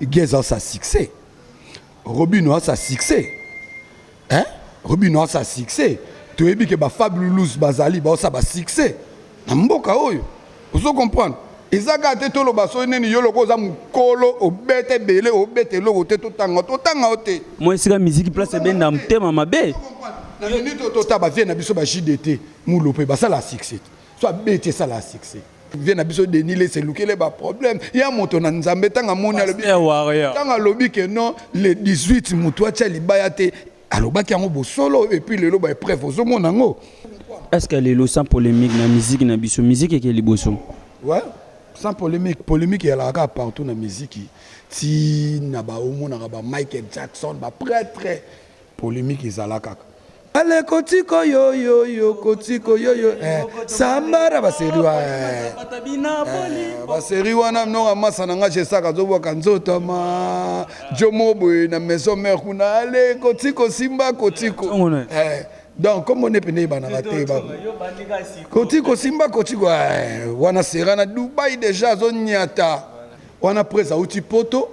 Geza sa succès. Robino a sa succès. Hein? Robino a sa succès. Tu es que ba Fabulous bazali ba sa ba succès. Na mboka oyo. Vous comprenez? ezaka te toloba soki nini yo lokola oza mokolo obeta ebele obeta eloko te totanga totanga yo te mwa esika miziki place ebenda motema mabe na minute oyo totala bavie na biso ba jdt mulo mpe basala succès so abeti esala succès vie na biso Denis Lessie elukele ba problème ya moto na Nzambe tanga moni alobi Pasteur Warrior. tanga alobi que non le 18 moto atia libaya te alobaki yango bosolo et puis lelo ba épreuve ozomona yango Est-ce que lelo sans polémique na musique na biso, musique eke liboso. ouais sans polémique polémique ezalaka kaka partout na miziki ti na baomonaka ba michael jackson baprêtre Polemique ezala kaka. Ale kotiko yo yo yo kotiko yo yo eh sambara ba série wa eh, eh ba série wana mnonga masa na nga jesaka zobwaka nzoto ma jomo boye na maison mère kuna ale kotiko simba kotiko eh donc comme on est pene bana ba te ba kotiko simba kotiko eh wana sera na Dubaï déjà zo nyata wana presa uti poto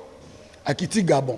akiti Gabon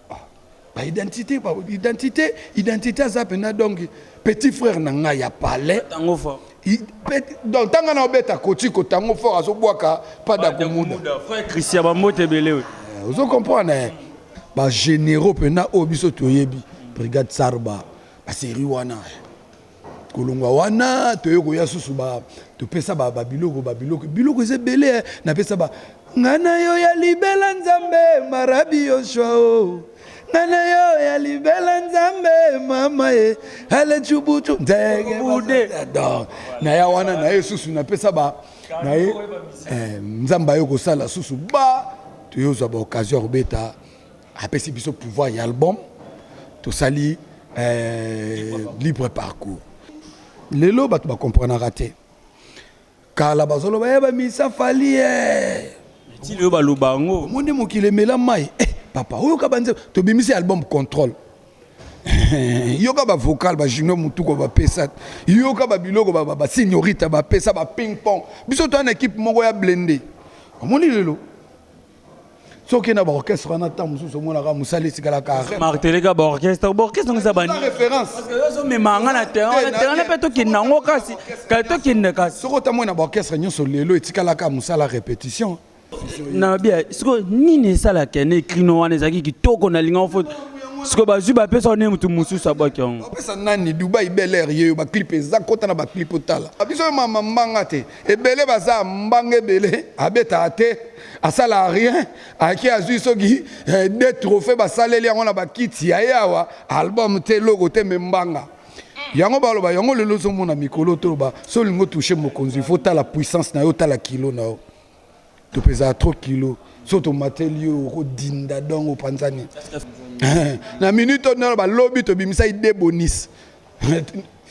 ba identité ba identité identité aza pena donc petit frère na ngai ya palais tango fort donc tanga na obeta kotiko tango fort azobwaka pada komuda frère christian bambote ebele oyo eh, ozo comprendre eh? ba généraux pena oyo biso toyebi brigade sarba ba série wana eh. kolongwa wana toye koya susu ba topesa ba babiloko babiloko biloko eza ebele eh. napesa ba ngai na yo ya libela nzambe marabi yoshua o oh. ngai na yo ya libela nzambe mama ye eh. ale cubucu nzegebude naya wana naye susu napesa ba naye eh, nzambe aye kosala susu ba toyozwa ba occasion ya kobeta apesi biso pouvoir ya album tosali euh, libre parcours lelo bato bakomprenaka te kala bazoloba ya eh, bamisa fali eh. ti lelo baloba yango omoni mokili emela mai eh, papa oyoka banze tobimisi album contrôle yoka bavocal bajunior motuko bapesa yoka babiloko basignorita bapesa baping pong biso toa na ekipe moko ya blende omoni lelo soki na baorchestre wana ntango mosusu omonaka mosala esikalaka marteleka baorchestre baorchestre ngisa baozomema nga na terrain na terrain mpe tokende yango kasi tokende kasi soki otamoi na baorchestre nyonso lelo etikalaka mosala repetition na bia sikoyo nini esalaka ne crino wana ezalaki kitoko na linga ofo sikoyo bazwi bapesa wana motu mosusu abwaki yango bapesa nani dubai bel air yeyo baclip eza kota na baclip otala biso mama mbanga te ebele baza mbanga ebele abetaka te asalaka rien ake azwi soki eh, de trophée basaleli yango na bakiti ya ye awa album te eloko te me mbanga yango baloba yango lelo ozomona mikolo toloba so olingi otouche mokonzi fo tala puissance na yo tala kilo na yo topezaka trop kilo so tomateli yo okodinda dongo opanzani na minute oyo nano balobi tobimisaki de bonis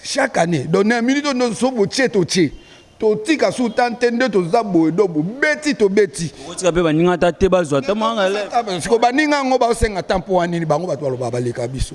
chaque année donc na minute oyo nyonso so botie totie totika su ta nte nde toza boye do bobeti tobeti okotika mpe baninga ata te bazwa siko baninga yango baosenga ta mpo wa nini bango bato balobaka baleka biso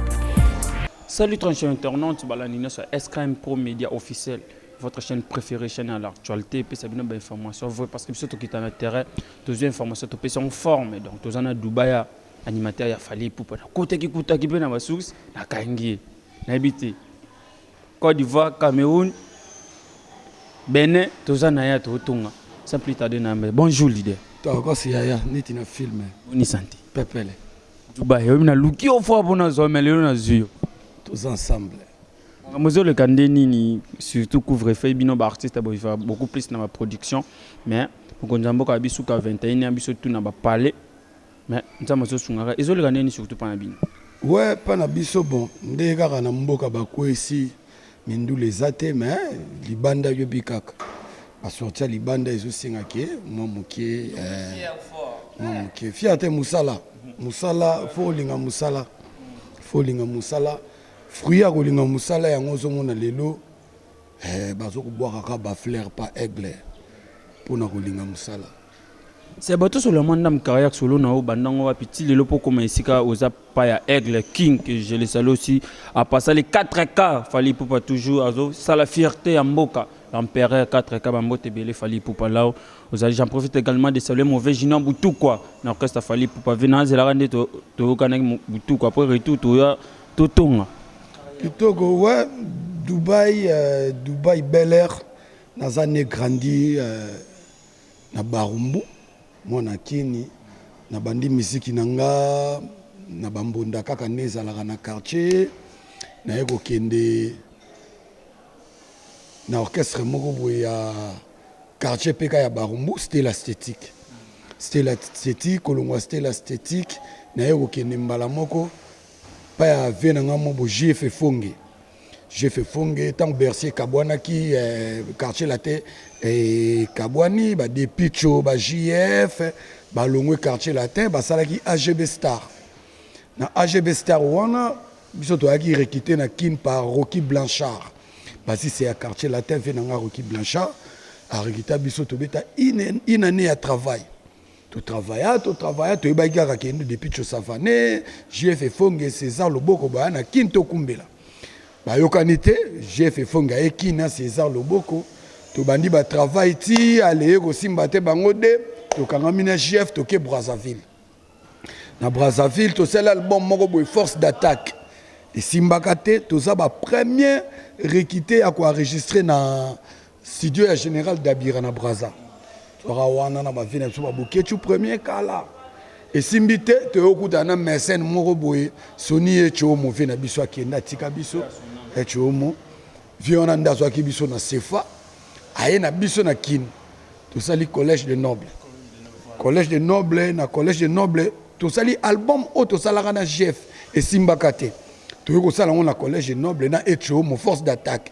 Salut ton chaîne internaute balandi nyonso ya SKM Pro Media officiel votre chaîne préférée chaîne à l'actualité epesa bino ba information vrai parce que biso tokita na terrain tozwi information topesi yango forme donc toza na Dubai ya animateur ya Fally Ipupa nakotaki kutaki mpe na ba source nakangi ye nayebi te Côte d'Ivoire Cameroun Benin toza na ya totonga sans plus tarder na yambe bonjour leader tokasi yaya neti na filme boni santé pepele Dubai oyebi naluki yo fwa mpo nazwa me lelo nazwi yo toza ensemble makambo ezoleka nde nini surtout couvre feu bino baartiste boviva beaucoup plus na baproduction mais mokonzi ya mboka ya bisuka 21 ya biso tuna bapale mais nzambe azosungaka ezoleka nde nini surtout mpa na bino we mpa na biso bon nde kaka na mboka bakwesi mindule eza te mais libanda yobi kaka basorti ya libanda ezosenga ke mwa moke eh, mwa moke fierte mosala mosala fo olinga mosala fo olinga mosala fruit ya kolinga mosala yango ozomona lelo eh, bazokobwakaka bafleur pa aigle mpo na kolinga mosala Sabato solo ya mwa ndam carrière solo na yo banda ngo wapi ti lelo mpo okoma esika oza pa ya aigle king que je le salue aussi apasa les 4 cas fally ipupa toujours azosala fierté ya mboka l'empereur 4 cas bambote ebele fally ipupa lao ozali j'en profite également de saluer mauvais junior butukwa na orchestre ya fally ipupa ve nazelaka nde to- toyokanaki mo- butukwa après retour toya totonga kitoko wa dubai euh, dubai bel air naza ne grandi euh, na barumbu mwana akeni na bandi miziki na nga na bambunda kaka nde ezalaka na quartier naye kokende na orchestre moko boye ya quartier mpeka ya barumbu stela stétique stela stétique kolongwa stela stétique naye kokende mbala moko mpa ya vie na nga mo bo jf efonge Jeff Efonge ntango Bercy ekabwanaki eh, quartier latin ekabwani eh, ba Depicho ba JF balongwe quartier latin basalaki AGB Star na AGB Star wana biso toyaki rekite na Kin par Rocky Blanchard basise ya quartier latin ve na nga Rocky Blanchard arekita biso tobeta une année ya travail To travaya to travaya toyebaki kaka kendo depuis Chosavane, JF Efonge, César Loboko baya na Kin tokumbela. Bayokani te, JF Efonge aye Kin na César Loboko. Tobandi ba travail ti aleye kosimba te bango de tokangami na JF toke Brazzaville. Na Brazzaville tosali album moko boye force d'attaque. Esimbaka te toza ba premier rekite ya koenregistre na Studio ya General Dabira na Brazza. Toka wana na ba vie na biso ba Boketshu premier kala. Esimbi te toyokuta na Mersen moko boye Soni ye Chomo vie na biso akenda tika biso. Eh Chomo vie wana nda azwaki biso na Sefa aye na biso na Kin. Tosali collège de noble. Collège de noble na collège de noble tosali album oyo tosalaka na GF esimbaka te. Toyokosala ngo na collège de noble na Echomo force d'attaque.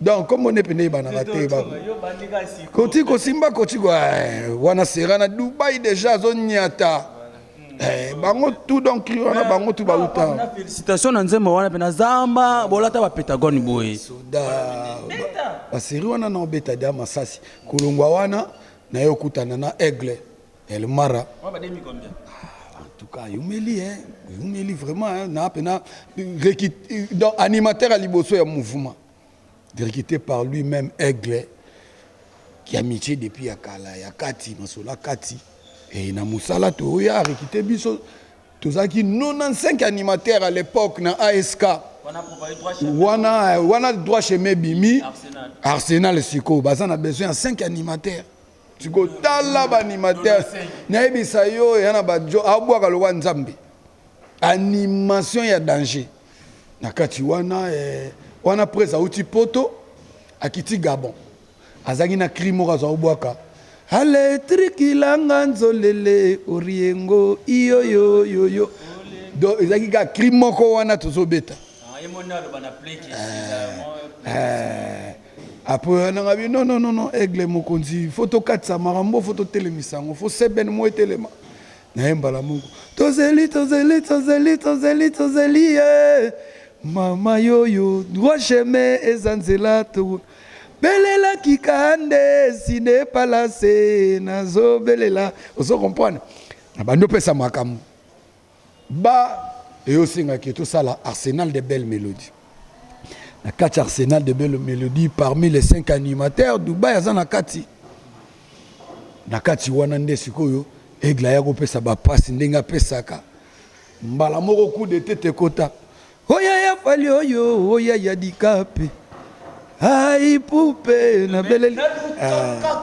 donc kombo nde mpenza ebanaka te koti kosimba koti eh, wana sera na dubai deja azonyata eh, bango tu donc wana bango tu bauta félicitation na nzembo wana mpe na zamba bolata bapetagone boye baseri wana na obeta dia masasi kolongwa wana naye okutana na aigle El Mara. Moi, ba demi combien? Ah, en tout cas, yumeli, hein. Yumeli vraiment, hein. Na pena, donc animateur à liboso ya mouvement. Directé par lui-même Aigle. Qui a miché depuis ya kala, ya kati, masola kati. Et na musala to ya rekite biso. Tozaki 95 animateurs à l'époque na ASK. Wana, wana droit chemin bimi. Arsenal. Arsenal siko. Baza na besoin ya 5 animateurs. siko tala baanimateur nayebisa yo eya na bajo abwaka lokwa nzambe animation ya danger na kati wana eh, wana pres auti poto akiti gabon azalaki na cri moko azwa kobwaka aletrikilanga nzolele oriengo iyoyoyoyo do ezalaki kaka cri moko wana tozobeta ah, eh, eh. Après oya nanga bi non non non aigle mokonzi faut tokatisa makambo faut totelemisa yango faut seben mo etelema na ye mbala moko tozeli tozeli tozeli tozeli tozeli ye mama yoyo droit chemin eza nzela to belelaki ka nde sine palase nazobelela ozo comprendre na bandi opesa makambo Ba et osenga que tosala arsenal de belle melodie na kati arsenal de belle melodie parmi les cinq animateurs dubai aza na kati na kati wana nde sikoyo aigle aya kopesa bapasi ndenge apesaka mbala moko coup de tete ekota Oh yaya fali oyo oh, oh yaya dikape ai poupe na beleli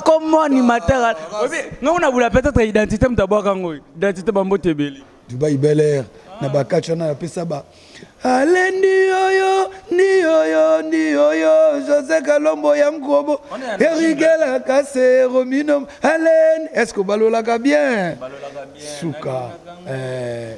comme ah. animateur ah, ngongo na bula peut-être identité moto abwaka yango identité bambote ebele dubai bel air na bakati wana napesa ba ale ndiyoyo ndiyoyo ndiyoyo josé kalombo ya nkobo erigela kase romino alen est ce que obalolaka bien suka eh.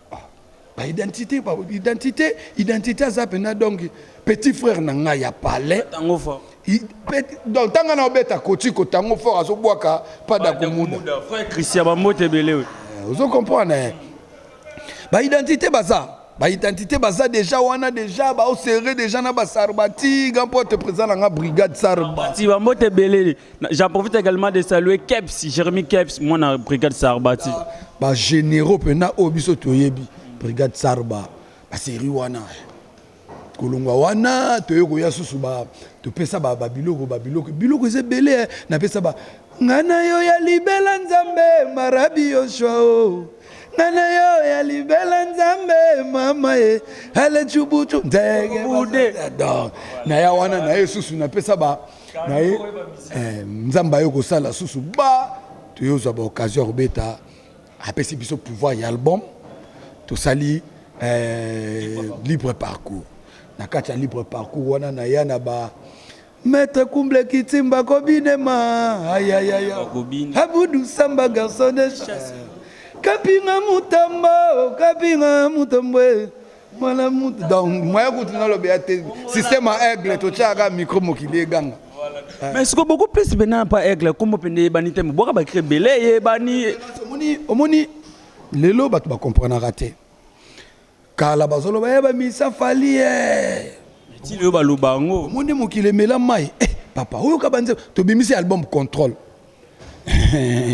Ah, ba identité, ba identité, identité aza pena donc petit frère na ngai ya palais. Tango fort. Donc tanga na obeta koti ko tango fort azo bwaka pas da kumuda. Frère Christian ba mbote belé. Eh, ozo comprendre. Eh? Ba identité baza. Ba identité baza déjà wana déjà ba serré déjà na ba sarbati, gampo te présent na brigade sarba. Sarbati ba mbote belé. J'en profite également de saluer Keps, Jérémy Keps, moi na brigade Sarbati. Ah, ba généraux pena oyo biso toyebi brigade Sarba, ba série wana. kolongwa wana toye koya susu topesa babiloko babiloko biloko eza ebele eh. napesa ba ngai na yo ya libela nzambe marabi yoshua o ngai na yo ya libela nzambe mama ye alecubucu ndegebude naya wana na ye susu napesa ba na ye eh, nzambe aye kosala susu ba toye ozwa baoccasion ya kobeta apesi biso pouvoir ya album tosali eh, libre parcours na kati ya libre parcours wana na ya na ba Maître Kumble Kitimba Kobinema ayayaya Abudu Samba garçon de chasse Kapinga Mutamba oh, Kapinga Mutambwe mwana mutu donc moya kutu nalobela te système ya aigle totyaka micro mokili eganga mais siko beaucoup plus bena pa aigle nkombo mpe nde eyebani te mobwaka bakri ebele eyebani omoni omoni lelo bato bakomprenaka te kala bazoloba ye bamisa fali ye ti lelo baloba yango omoni mokili emela mai eh, papa oyoka banzembo tobimisi album contrôle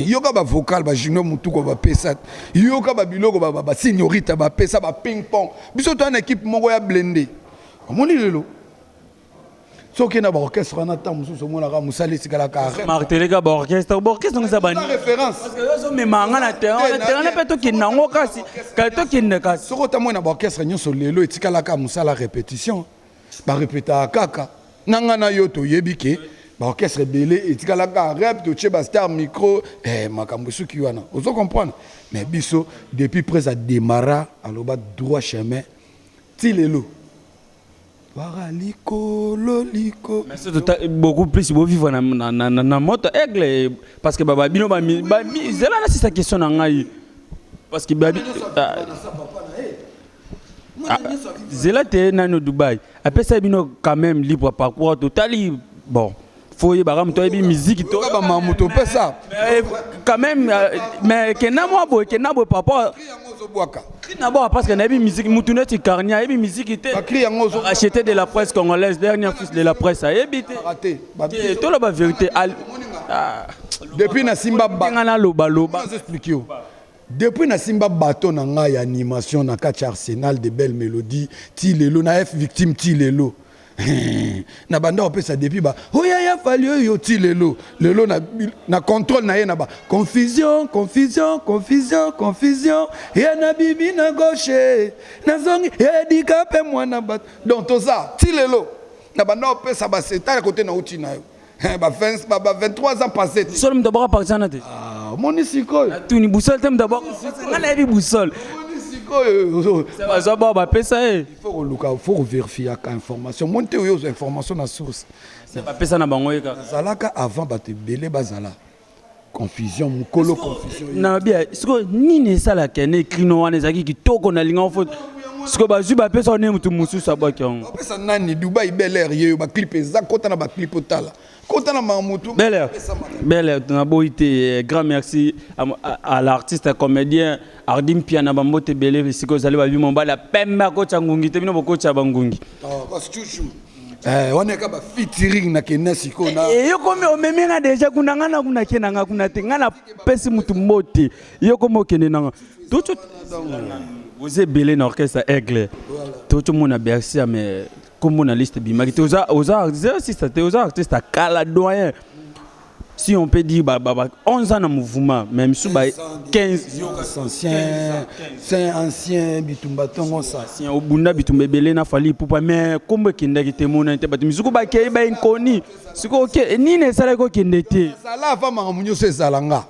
yoka ba vocal ba junior mutuko ba pesa yoka ba biloko ba ba signorita ba pesa ba ping pong biso to na équipe moko ya blende omoni lelo soki na ba orchestre wana ta mususu omona ka musali sikala ka martelé ka ba orchestre ba orchestre ngisa ba référence parce que yozo memanga na terrain na terrain pe to kinna ngo kasi ka to kinna kasi soki otamwe na ba orchestre nyoso lelo etikala ka musala répétition ba repeta kaka na nga na yo toyebi ke ba orchestre ebele etikala kaka rep totie ba star micro eh, makambo esuki wana ozo comprendre mais biso depuis pres a démarra aloba droit chemin ti lelo wara likolo liko mais surtout ta- beaucoup plus bovivre na, na, na, na, na moto aigle parce que baba bino bami- bami- zela nasisa question na ngai parce que babi ah, Ah, zela te nano dubai apesaki bino quand même libre parcours totali bon fo oyebaka moto ayebi miziki tokabama moto opesa eh, quand même euh, mais kenda mwa boye kenda boye par rapport nabwaka parce que nayebi miziki motu neti carni ayebi miziki te achete de la presse congolaise dernier fils de la presse ayebi te toloba vérité ah. depuis na simba nga nalobaloba explique yo Depuis na simba baton na nga ya animation na kati ya Arsenal de belle melodie ti lelo na F victime ti lelo na banda opesa depuis ba oya ya fali oyo ti lelo lelo na, na contrôle na ye na ba confusion confusion confusion confusion ya na bibi na gauche na zongi ya dika pe mwana bato donc toza ti lelo na banda opesa ba seta ya kote na uti na yo Eh, ba 20 ba, ba 23 ans passé te solo moto abwaka partizana te Ah, omoni sikoyo natuni busole te moto abwaka nga nayebi busole omoni sikoyo bazwa bao bapesa ye faut koluka faut koverifiaka information moni te oyo ozwa information na source bapesa na bango ye kaka zalaka avant bato ebele bazala confusion mukolo confusion na bia siko nini esala kene krino wana ezalaki kitoko na linga fo siko bazwi bapesa wana motu mosusu abwaki yango bapesa nani dubai bel air yeyo baclip eza kota na baclip otala kota na mamutu bel air bel air naboyi te eh, grand merci à, à, à l'artiste à comédien ardi mpia na bambote ebele siko ezali babi mobali ya pembe akotya ngungi te bino bokotya bangungi oh, Eh, wana ka ba featuring na kena siko na eh, yo komi omemi nga deja kuna nga na kuna kena nga kuna te nga na pesi mutu mbote yo komi okende na nga tutu oza ebele na orchestre aigle tutu mona bercia mais kombo na liste bimaki te oza oza artiste te oza artiste akala doyen si on peut dire, bah, bah, bah, 11 ans dans le mouvement, même si bah, 15 anciens, 5 anciens, bitumba tongo ça. Si on bunda bitumba belé na fali poupa mais comme kenda ki temona te batu mizuko ba kei ba inconnu. Siko ok ni ne sala ko kende te. Sala va ma munyo se zalanga.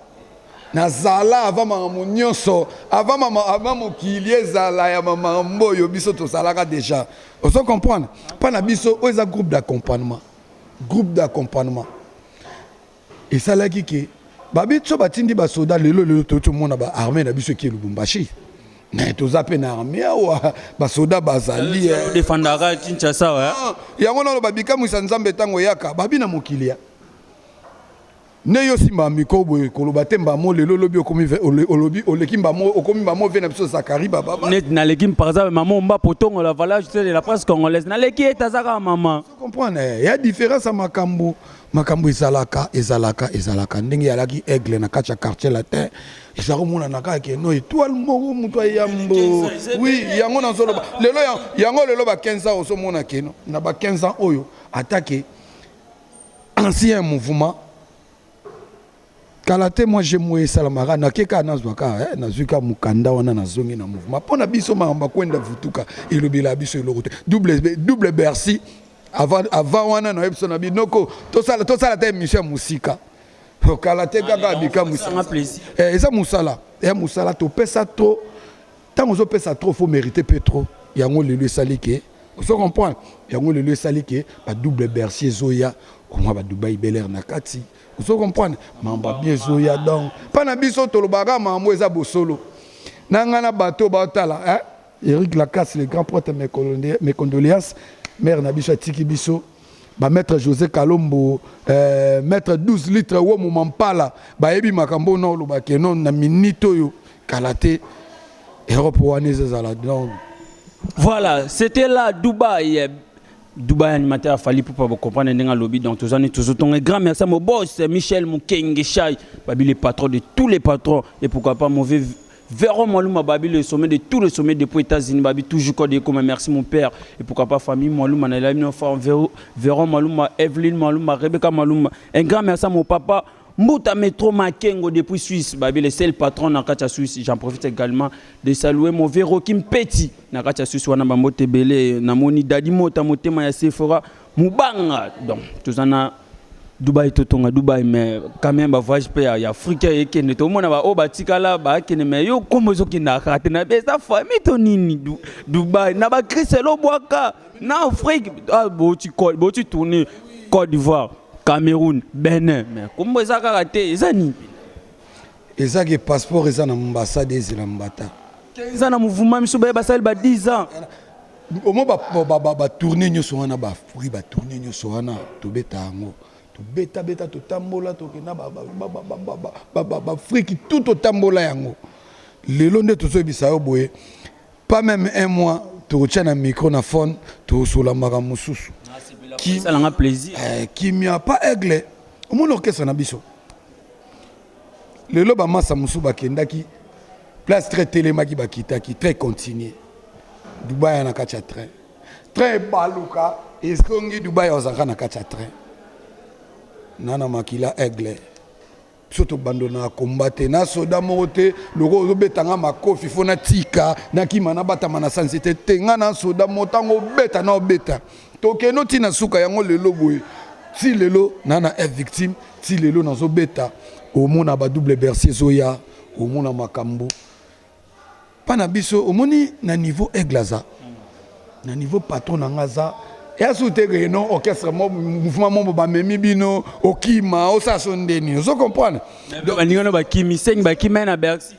Na zala va ma munyo so avant mama avant mokili ezala ya mama mboyo biso to salaka déjà. Ozo comprendre? Pas na biso oza groupe d'accompagnement. groupe d'accompagnement esalaki ke babi so batindi basoda lelo lelo touti omona ba armée na biso eki lubumbashi mais toza mpe na armée awa basoda bazali eh. defandaka kinshasa wa ah, yango naloba bikamwisa nzambe ntango eyaka babi na mokili ya Nde yo simba micro boye koloba te mbamo lelo lobi okomi olobi oleki mbamo okomi mbamo vie na biso Zakari baba. Net na leki par exemple maman mba potongo la valeur tu de la presse congolaise na leki eta zaka maman. Tu comprends eh ya différence makambu makambu ezalaka ezalaka ezalaka ndenge yalaki aigle na kacha quartier latin ezalaka mona na kaka ke no étoile moko mutu ayambo oui yango na zoloba lelo yango lelo ba 15 ans ozo mona ke no na ba 15 ans oyo atake ancien mouvement kala te moi jemo esalamaka nake kaka nazwa kaka eh, nazwi kaka mokanda wana nazongi na mouvement mpo na biso makambo akwenda vutuka elobela biso eloko te double bercy avant, avant wana nayebi biso na binoko tosala tosala ata émission ya mosika oh, kala te kaka ah, bikamwisa eh, eza mosala ya eh, mosala topesa to Tango ozo pesa trop faut meriter peu trop yango lelo esali ke ozo comprendre yango lelo esali ke ba double bercier ezoya omwa ba Dubai Bel Air na kati ozo comprendre mamba bien ezoya donc pa na biso tolobaka mambo eza bosolo na ngai na bato baotala hein? Eric Lacasse le grand prêtre mes condoléances mère na biso atiki biso ba maître José Kalombo euh, maître 12 litres wo momampala bayebi makambo na oloba ke non na minute oyo kala te europe wana ezazala donc voilà c'était là dubaï dubaï animateur afali mpo bacomprendre ndenge alobi donc toza nini tozotonga grand merci mo boss michel mokenge shai babi le patron de tous les patrons et pourquoi pas mauvais Véro Mwalouma Babi, le sommet de tous les sommets depuis États-Unis, Babi, toujours code et comme merci mon père. Et pourquoi pas famille Mwalouma, Naila Minofa, Véro Mwalouma, Evelyne Mwalouma, Rebecca Mwalouma. Un grand merci à mon papa, Mbuta Metro Makengo depuis Suisse, Babi le seul patron na Katia Suisse. J'en profite également de saluer mon vieux Rocky Mpeti na Katia Suisse wana bambo tebele na moni Daddy Mota motema ya Sephora Mubanga. Donc tous en a Dubaï totonga Dubaï mais quand même ba voyage pe ya Afrique et que ne tomona ba o batikala ba kene mais yo kombo zo kina kate na besa famille to nini du, Dubaï na ba Christelo Boaka na Afrique ah bo tu bo tu tourner Côte d'Ivoire Cameroun, Benin, mais kombo eza kaka te, eza nini? Eza ke passeport eza na ambassade ezela mbata. Eza na mouvement miso baye basali ba 10 ans. Omo ba ba ba, ba tourner nyoso wana ba fruit ba tourner nyoso wana tobeta yango. Tobeta beta totambola tokenda ba ba ba ba ba ba ba ba ba friki tout totambola yango. Lelo nde tozoyebisa yo boye pas même un mois tokotia na micro na phone tokosola makambo mosusu esalanga plaisir eh, kimia pa aigle omoni orchestre na biso lelo bamasa mosusu bakendaki place très telemaki bakitaki très continue dubai ya na kati ya train train ebaluka ezongi dubai ozalaka na kati ya train nana makila aigle biso tobandona komba te na soda moko te lokola ozobeta nga makofi fo natika nakima nabatama na sanse te te nga na soda moko ntango obeta na obeta tokende oti na suka yango lelo boye ti lelo na na f victime ti lelo nazobeta omona ba double bercier ezoya omona makambo pa na biso omoni na niveau aigle aza na niveau patron na nga aza ya su te ke non orchestre mo mouvement mo bamemi bino okima osala so nde nini ozo comprendre donc baninga no bakimi sengi bakima na bercy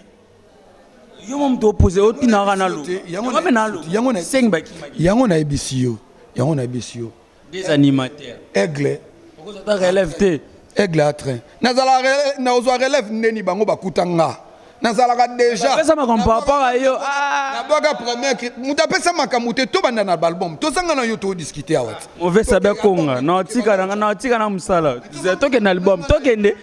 yo mo moto opose otunaka na loba yango na loba sengi bakima yango nayebisi yo yango nayebisi yo Des animateurs. Aigle. Okozwa relève te. Aigle a train. Nazala relève, nazwa relève ndeni bango bakuta nga. nazalaka déjà pesa makambo par rapport à yo nabwaka ah. première moto apesa makambo te tobanda na balbum tozanga na yo todiscute awa te mauvais sabe akonga natika nanga natika na mosala tokende album tokende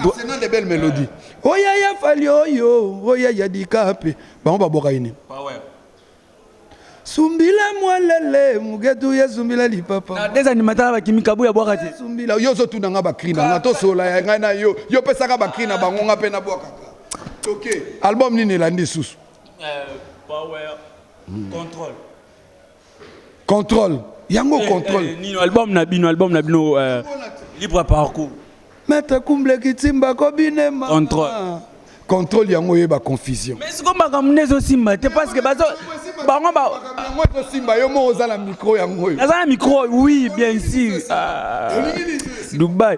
arsenal de belle mélodie oyaya fali oyo oyaya dikape bango babwaka ye nini Sumbila mwalele mugetu ya sumbila lipapa. Na des animateurs ba kimi kabuya bwaka te. Sumbila yo zo tuna nga ba cri na nga to sola ya nga na yo. Yo pesaka ba cri na bango nga pe na bwaka. OK. Album nini elandi susu? Euh, power hmm. control. Control. Yango eh, control. Eh, nino album na bino, album na bino euh, libre parcours. Maître Kumble Kitsimba ko binema. Contrôle. Contrôle yango oyeba confusion. Mais siko makambo nde ezosimba te parce que bazo bango ba Yango ekosimba yo moko oza na micro yango oyo. naza na micro oui bien sûr Ah, dubai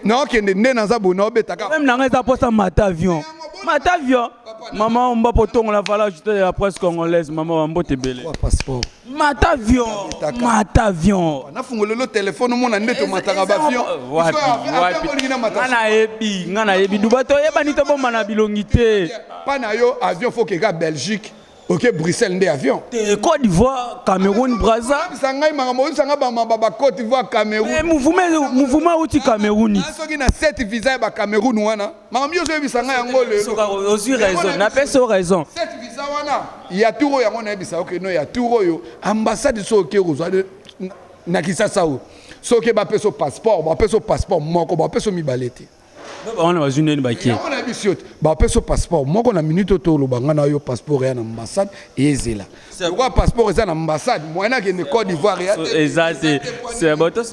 naokende nde naza boye naobeta kaka problème na ngai eza mposa mata avion mata avion mama omba potongola valage te ya presse congolaise mama bambote ebele passeport mata avion Nakabetaka. mata avion nafungolelo telefone omona nde tomataka bavion nga nayebi nga nayebi duba toyebani tobombana bilongi te pa na yo avion fo keka belgique oke bruxelles nde avion te cote d'ivoire cameroun braza oyebisa ngai makambo oyebisa ngai bamaba ba cote d'ivoire Eh, cameroun mouvuma ezo- mouvuma euti cameroun Ngai soki na set visa ya ba cameroun wana makambo nyonso oyebisa ngai yango lelo Soka, ozwi raison napesi yo raison Set visa wana ya tour oyo yango nayebisa yo keno ya tour oyo ambassade soki oke kozwa na kisasa oyo soki bapesa yo passeport bapesa yo passeport moko bapesa yo mibale te wana bazwi ndeni bakie nayebisi yo te bapesa yo passeport moko na minute oyo toloba ngai na yo passeport eya na ambassade ezela lokola passeport eza na ambassade moyen akende cote d'ivoire ya te eza te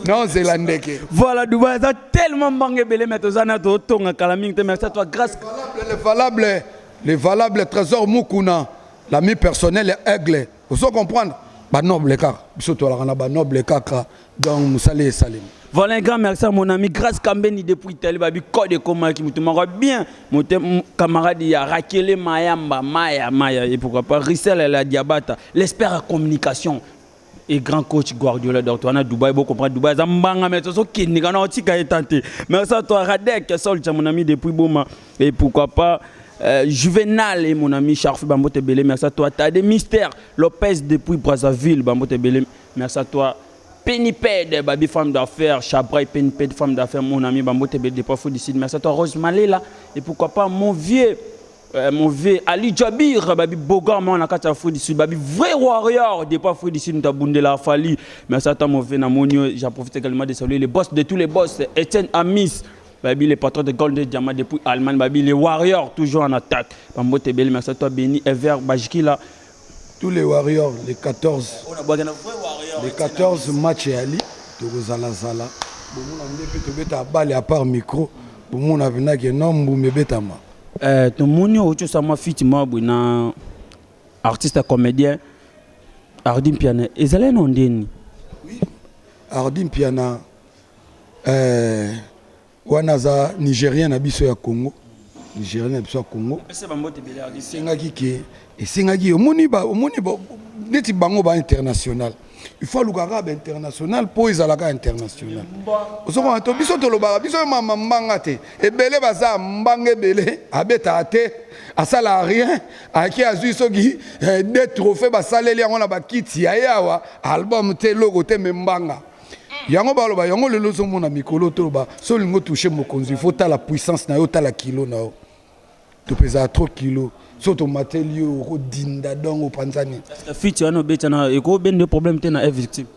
na ozela ndeke voilà dubai eza tellement mbanga ebele me toza na totonga kala mingi te merci à toi grâce valable Le valable Tresor Mukuna, l'ami personnel ya Aigle. Ozo comprendre? Ba noble kaka. Biso tolaka na ba noble kaka. Donc musali esalemi. Voilà un grand merci à mon ami Grace Kambeni depuis Italie, babi code comment qui mutu mako bien, mon camarade ya Rakele Mayamba, Maya Maya et pourquoi pas Rissel la Diabata, l'espère à communication. et grand coach Guardiola donc toi na Dubaï bon comprendre Dubaï za mbanga mais tozo kindika na otika etante merci à toi Radek Saul mon ami depuis Boma et pourquoi pas euh, Juvenal et mon ami Charfi Bambo Tebele merci à toi Tade Mister Lopez depuis Brazzaville Bambo Tebele merci à toi Peniped, Babi femme d'affaires, Chabray Peniped femme d'affaires, mon ami Bambo Tebele depuis Fou du Sud. Merci à toi Rose Malela et pourquoi pas mon vieux Euh, mauvais Ali Jabir babi boga mwana kati ya Afrique du Sud babi vrai warrior depuis Afrique du Sud mutu abundela afali mais ata mauvais na moni yo j'en profite également de saluer les boss de tous les boss Etienne Amis babi les patrons de Golden Diamant depuis Allemagne babi les warriors toujours en attaque bambote ebele merci à toi Beni Ever Bajkila Tous les warriors les 14 les 14 match ya li tokozala zala bomona nde pe tobeta bale à part micro bomona pena ke non mbuma ebetama Eh, tomoni outi osama fiti mwa boye na artiste comédien ardi mpiana ezali no ndeni Ardi Mpiana euh, wana aza nigerien na biso ya congo nigerien na biso ya congo esengaki ke esengaki omoni omoni neti bango ba international il faut aluka kaka bainternational mpo ezalaka international ozomona to biso tolobaka biso mama mbanga te ebele baza mbanga ebele abetaka te asala rien ayaki azwi soki eh, de trophée basaleli yango na bakiti ya ye awa album te eloko te me mbanga yango baloba yango lelo ozomona mikolo toloba so olingi otouche mokonzi faut tala puissance na yo tala kilo na yo tope ezala trop kilo so tomateli yo okodinda dongo opanzani fiti wana obeta na ekobende problème te na victime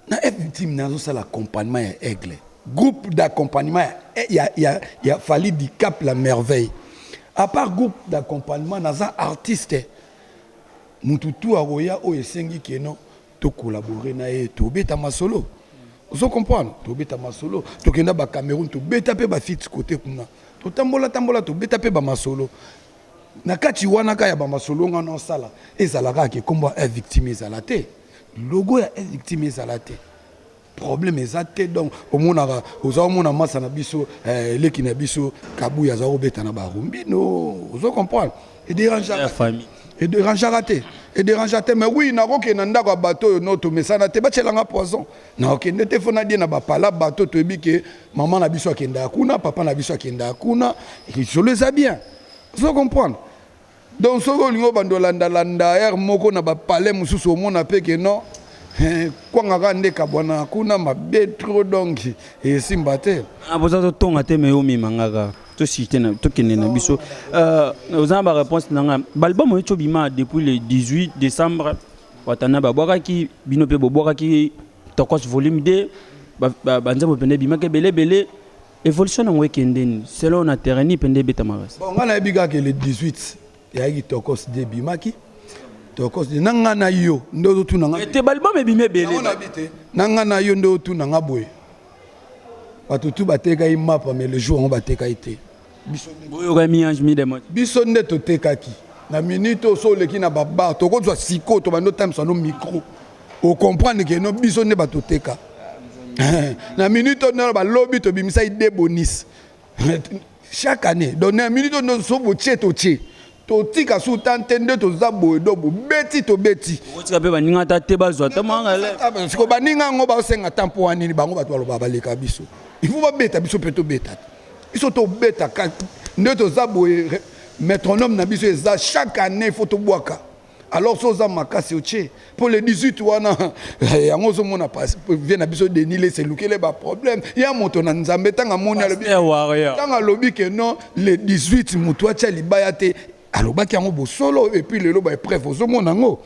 na victime nazosala accompagnement ya aigle groupe d'accompagnement ya, eh, ya, ya, ya fali du cap la merveille à part groupe d'accompagnement naza artiste mutu tu akoya oyo esengi keno To collaborer na ye to beta masolo. Ozo comprendre? To beta masolo, to kenda ba Cameroun to beta pe ba feats cote kuna. To tambola tambola to beta pe ba masolo. Na kati wana ka ya ba masolo nga nao sala ezala kaka ke kombo ya F-Victim ezala te. Logo ya F-Victim ezala te. problème eza te donc omonaka oza omona masa na biso eh, eleki na biso kabuya aza kobeta na barumbino ozo comprendre ederangeaka famille ederangeaka te ederangea te mais oui nakokende na ndako ya bato oyo no tomesana te batyelanga poison nakokende te fo nadie na bapala bato toyebi ke mama na biso akendaka kuna papa na biso akendaka kuna lisolo eza bien ozo comprendre Donc soki olingi obanda olanda landa heure moko na ba palais mosusu omona pe ke non eh, kwanga kaka nde kabwana kuna mabe trop donc esimba te. Ah, boza totonga te me omema nga kaka tosite na tokende na biso Euh, oza na baréponse na ngai baalbum oyo cobima depuis le 18 décembre watana babwakaki bino mpe bobwakaki tokos volume 2 ba- ba- banzembo mpende ebimaki ebele ebele Evolution nango ekendeni selon na terrain ni pende ebetamaka. Bon nga na yebi kaka le 18 ya ki tokos de bimaki. Tokos de nanga na yo nde ozo tuna nga. Te balbum ebimi ebele. Na bite. Nanga na yo nde ozo tuna nga boye. Bato tout bateka yi mapa mais le jour yango bateka yi te. Biso nde. Boyo ka mi ange mi demon. Biso nde totekaki. Na minute oso oleki na babar tokozwa siko tobando times ano micro. o comprendre que no biso nde bato teka na minute oyo nalo balobi tobimisaki de bonis chaque année donc na minute oyo nso botie totie totika su tan te nde toza boye do bobeti tobeti okotika mpe baninga ata te bazwa ata mwangasiko baninga yango baosenga tan mpo wanini bango bato baloba baleka biso ifo babeta biso mpe tobeta te biso tobeta nde toza boye métronome na biso eza chaque année ifo tobwaka alors so oza makasi otie mpo le 18 wana eh, yango ozomona vie na biso denis lese elukele baproblème ya moto na nzambe ntango amoni ntango alobi ke non le 18 moto atya libaya te alobaki yango bosolo epuis lelo baepreuve ozomona yango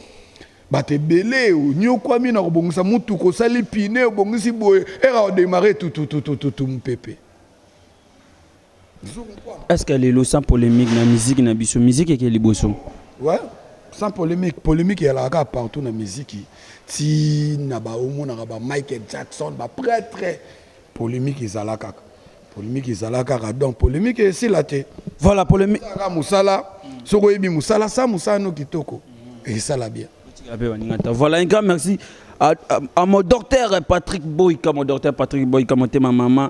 bato ebele onyokwami na kobongisa motuka osali pine obongisi boye era odemare tutututututu mopepe Est-ce que lelo sans polemique na musique na biso musique eke liboso Ouais, sans polemique, polemique ezalaka kaka partout na miziki ti na baomonaka ba Michael Jackson ba prêtre polemique ezala kaka polemique ezala kaka donc polemique esila te voilà polemique kaka mosala soki oyebi mosala sa mosala no kitoko esala bien ape baninga ta voilà un grand merci à, à, à mon docteur Patrick Boy comme docteur Patrick Boy comme motema maman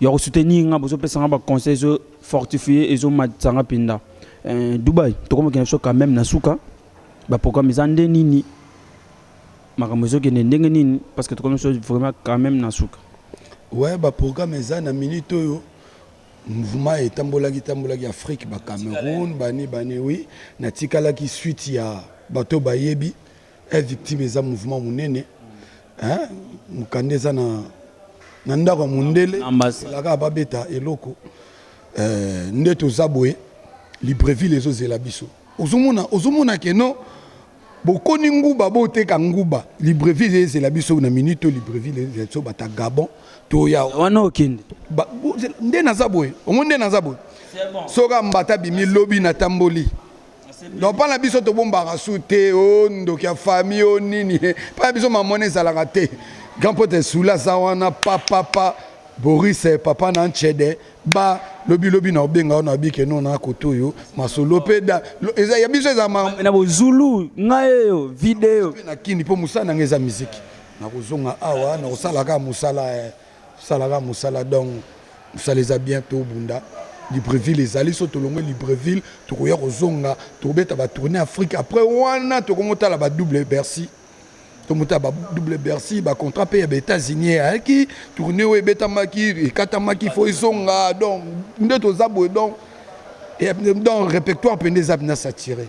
ya ko soutenir nga bozo pesa nga ba conseils zo fortifier ezo matisa nga pinda euh, Dubai tokoma kina biso quand même na suka ba programme eza nde nini makambo ezo kende ndenge nini parce que tokomi biso vraiment quand même na suka ouais ba programme eza na minute oyo mouvement etambolaki tambolaki Afrique ba Cameroun bani bani oui natikalaki suite ya bato bayebi Eh, victime eza mouvement monene hein? mokanda eza na, na ndako ya mondele elaka babeta eloko eh, nde toza boye libreville ezozela biso ozomona ozomona keno bokoni nguba boteka nguba libreville ezela biso na minute to libreville ezela biso bata gabon toya wana okende nde naza boye ongo nde naza boye soka mbata bimi lobi natamboli donc mpa na biso tobombaka su te o oh, ndoki ya fami o oh, nini mpa na biso mamona ezalaka te grand pote sula aza wana papapa boris eh, papa na ncede ba lobi lobi na obenga wana abike no na koto oyo masolo mpe da eza ya biso eza na bozulu ngai oyo video na kini mpo mosala na ngai eza miziki nakozonga awa nakosalaka mosala eh. salaka musala donc musala eza bien to bunda libreville ezali so tolongwe libreville tokoya kozonga tokobeta batourne afrique après wana tokomotala ba double bercy tomotala ba double bercy bacontrat mpe ya baétats-unis eyaki tourne oyo ebetamaki ekatamaki fo ezonga donc nde toza boye donc donc répertoire mpe nde eza mpena satire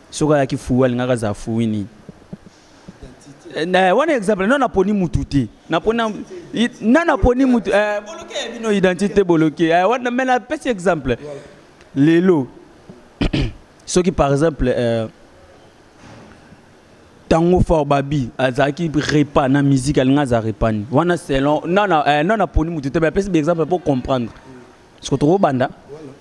soki ayaki fuu alingaka azala fui nini eh, wana exemple na naponi mutu te napona na naponi mutu eh, boloke ya bino identité boloke eh, wana me napesi exemple lelo soki par exemple eh, tango fort babi azalaki repa na musique alinga aza repani wana selon na naponi mutu te me apesi exemple mpo comprendre soko tokobanda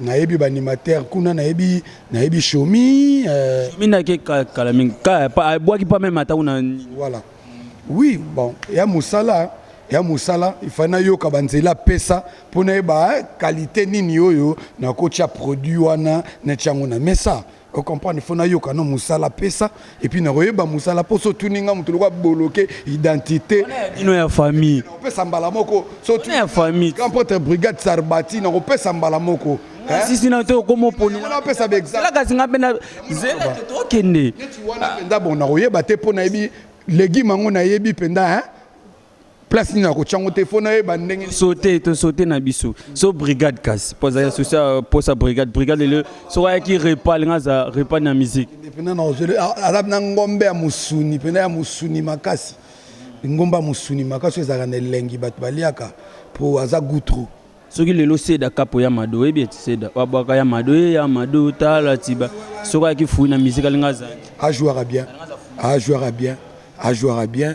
nayebi baanimateur kuna nayebi nayebi shomi euh, shomi nake kala mingi abwaki pa meme ata kuna voilà oui bon ya mosala ya mosala ifai nayoka banzela apesa mpo nayeba eh, kalite nini oyo nakotya produit wana natya yango na mesa o comprendre faut nayoka no mosala pesa epuis nakoyeba mosala mpo so otuni ngai moto lokola boloke identité ino ya famille nakopesa mbala moko so otuni ya famille grand prêtre brigade sarbati nakopesa mbala moko sisi na to okoma oponelapesa baexampelakasi ngai mpe na zela tokende neti wana mpenza bon nakoyeba te mpo nayebi legume yango nayebi mpenza hein place nini akotia yango te fo nayeba ndenge tosote tosote na biso so brigade kasi mpo azali asusi mposa brigade brigade lelo soko ayaki repa alinga aza repa na miziki mpena na ozele aza na ngombe ya mosuni mpena ya mosuni makasi ngombe ya mosuni makasi oyo ezalaka na elengi bato baliaka mpo aza gutru soki lelo seda kapo ya mado oyebi eti seda wabwaka ya mado ye ya mado tala tiba soko ayaki fui na miziki alinga azali ajouaka bien ajouaka bien ajouaka bien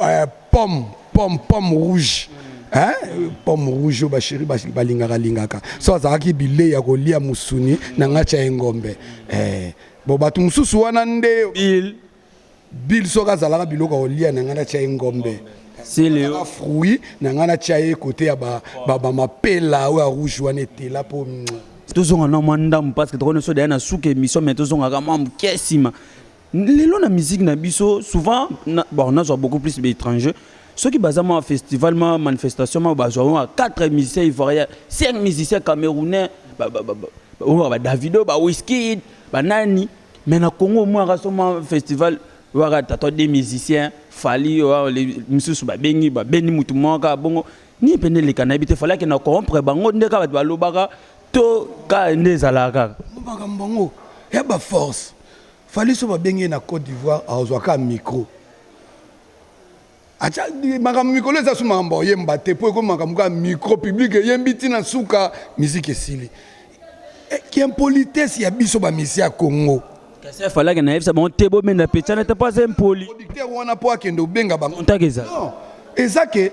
eh, pomme pomme pomme rouge hein? pomme rouge ba chéri balingaka lingaka so azalaki bile ya kolia musuni na ngacha ya engombe eh, bo bato mosusu wana nde bill bill soki azalaka biloko kolia na ngai natya ye ngombe silio fruit na ngai natya ye kote ya bamapela oyo ya rouge wana etela mpo tozonga na mwa ndambo parce que tokoni so deya na suka emission mai tozongaka mwa moke nsima Lelo na musique na biso souvent na, bon nazwa beaucoup plus ba étrangers soki baza ma festival ma manifestation ma bazwa ma 4 musiciens ivoiriens 5 musiciens camerounais ba ba ba, ba, ba, ba Davido ba Wizkid ba nani mais na Congo moi raso ma festival waka tata des musiciens fali wa les misusu ba bengi ba beni mutu mwaka bongo ni pende le cannabis te fallait que na corrompre bango ndeka bato balobaka to ka nde ezalaka kaka makambo bango ya ba force Fally soki babengi ye na Cote d'Ivoire akozwa kaka micro atia makambo mikolo eza su makambo oyemba te mpo ekomi makambo kaka micro public eyembi ntina nsuka miziki esili eh, kiimpolitesse ya biso bamisi ya congo kasi afalaki nayebisa bango te bomenda pecana te mpo aza impoli producteur wana mpo akende obenga bango eza ke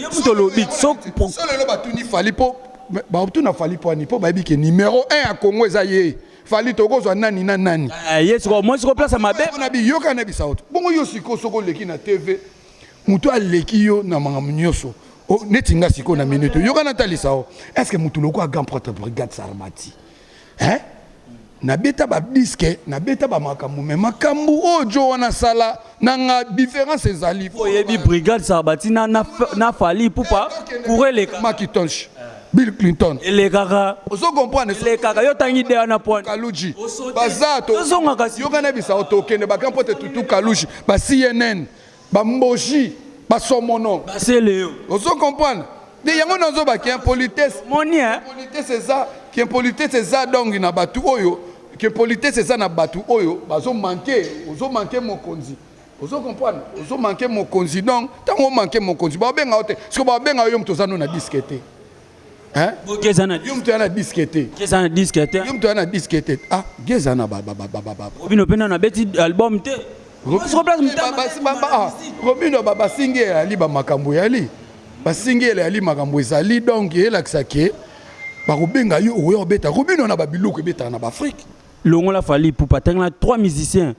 yo moto olobi solelo batuni fali mpo batuna fali mpo ani mpo bayebi ke numero 1 ya congo eza ye fali tokozwa nani na nani eh, ye sikoyo mwasi koplasa mabe na biyoka na bisaoto bongo yo sikoyo soko oleki na tv moto aleki yo na makambo nyonso neti nga sikoyo na minute yoka natalisa o estce moto lokola grand prêtre brigade sarmati hein nabeta ba disque nabeta ba makambo mais makambo oyo jo wana asala na nga différence ezali po oyebi brigade sarbati na, na, na fali pupa cour eleka makitonsh bill clinton elekaka ozo comprendre elekaka yo tangi deya na point kaluji baza tozongaka yokana bisa otokende bakampo te tutu kaluji ba cnn Ba mboji, ba somono. Ba celeo. Ozo comprendre? nde yango nazoba ke impolitesse impolitesse eza ke impolitesse eza dongi na bato oyo ke impolitesse eza na bato oyo bazomanke ozomanke mokonzi ozo comprendre ozomanke mokonzi donc ntango omanke mokonzi baobenga yo te siko baobenga yo moto oza no na diske te Hein? Bo geza na. Yo mtu ana disque te. Geza na disque te. Yo mtu ana disque te. Ah, geza na baba baba baba. Obino pena na beti album te. Robino babasingi eyali bamakambo eyali basingi eyali makambo ezali donc elakisa ke bakobenga yo oya obeta robino na babiloko ebetaka na baafrike longola fali pupa atangela 3 musiciens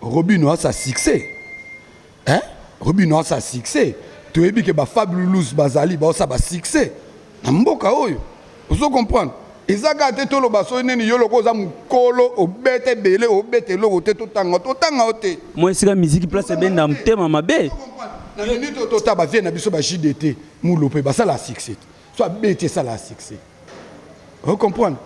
Robino a sa succès. Hein? Robino a sa succès. toyebi ke bafabulous bazali baosa basuccès na mboka oyo ozo comprendre eza kaka te toloba soki nini yo loko oza mokolo obeta ebele obeta eloko te totanga totanga yo te mwa esika miziki place ebenda motema mabe na minute oyo tota bavie na biso ba jdt mulope basala succès so abeti esala succès ocomprendre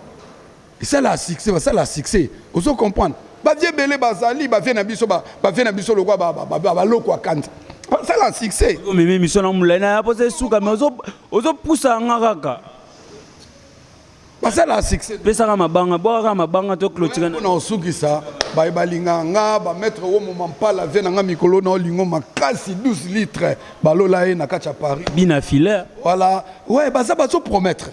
Esala succès, basala succès. Ozo comprendre? Ba vieux belé bazali, ba vieux na biso ba ba vieux na biso lokwa ba ba ba, ba loko akanza. Basala succès. Yo meme mission na mulai na posa suka mais ozo ozo pousa nga kaka. Basala succès. Pesaka mabanga, bwaka mabanga to clôture. Na osukisa ba balinga nga ba mettre wo mo mampala vie na nga mikolo na lingo makasi 12 litres balola ye na kacha Paris. Bina filaire. Voilà. Ouais, baza bazo promettre.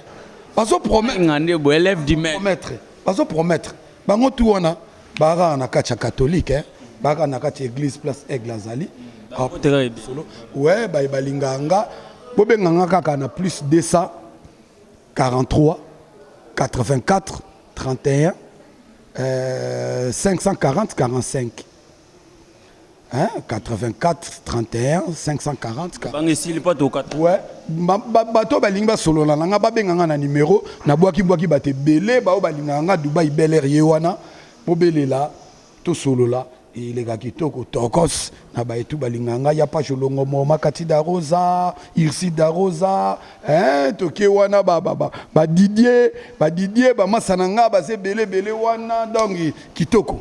bazo promettre ngande bo élève du maître promettre bazo promettre bango tout wana baka na kati ya catholique hein baka na kati église place aigle azali solo ouais ba balinga nga bo benga nga kaka na plus 200 43 84 31 euh, 540 45 Hein? 84 31 540 bange esili mpo tokata ouais. bato balingi basolola na ngai babenga ngai na nimero nabwakibwaki bato ebele bao balingaka ngai dubai beler ye wana bobelela tosolola eleka kitoko tokos na baetu balingaka ngai ya pasho longomo makati da rosa irsi da rosa hein? toke wana badidie badidie bamasa na ngai baza ebele ebele wana dongi kitoko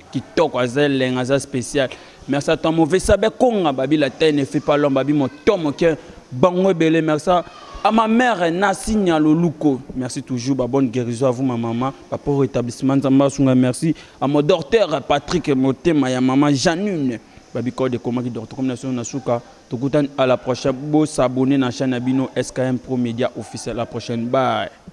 kitoko aza elenga aza spécial merci à toi mauvais sabe konga babi la taille ne fait pas l'homme babi moto moke bango ebele merci à ma mère Nasi Nyaloluko merci toujours ba bonne guérison à vous ma maman ba pour rétablissement nzamba sunga merci à mon docteur Patrick Motema ya maman Janine babi code ekomaki docteur comme nation na suka tokutani à la prochaine bo s'abonner na chaîne ya bino SKM Pro Media officiel à la prochaine bye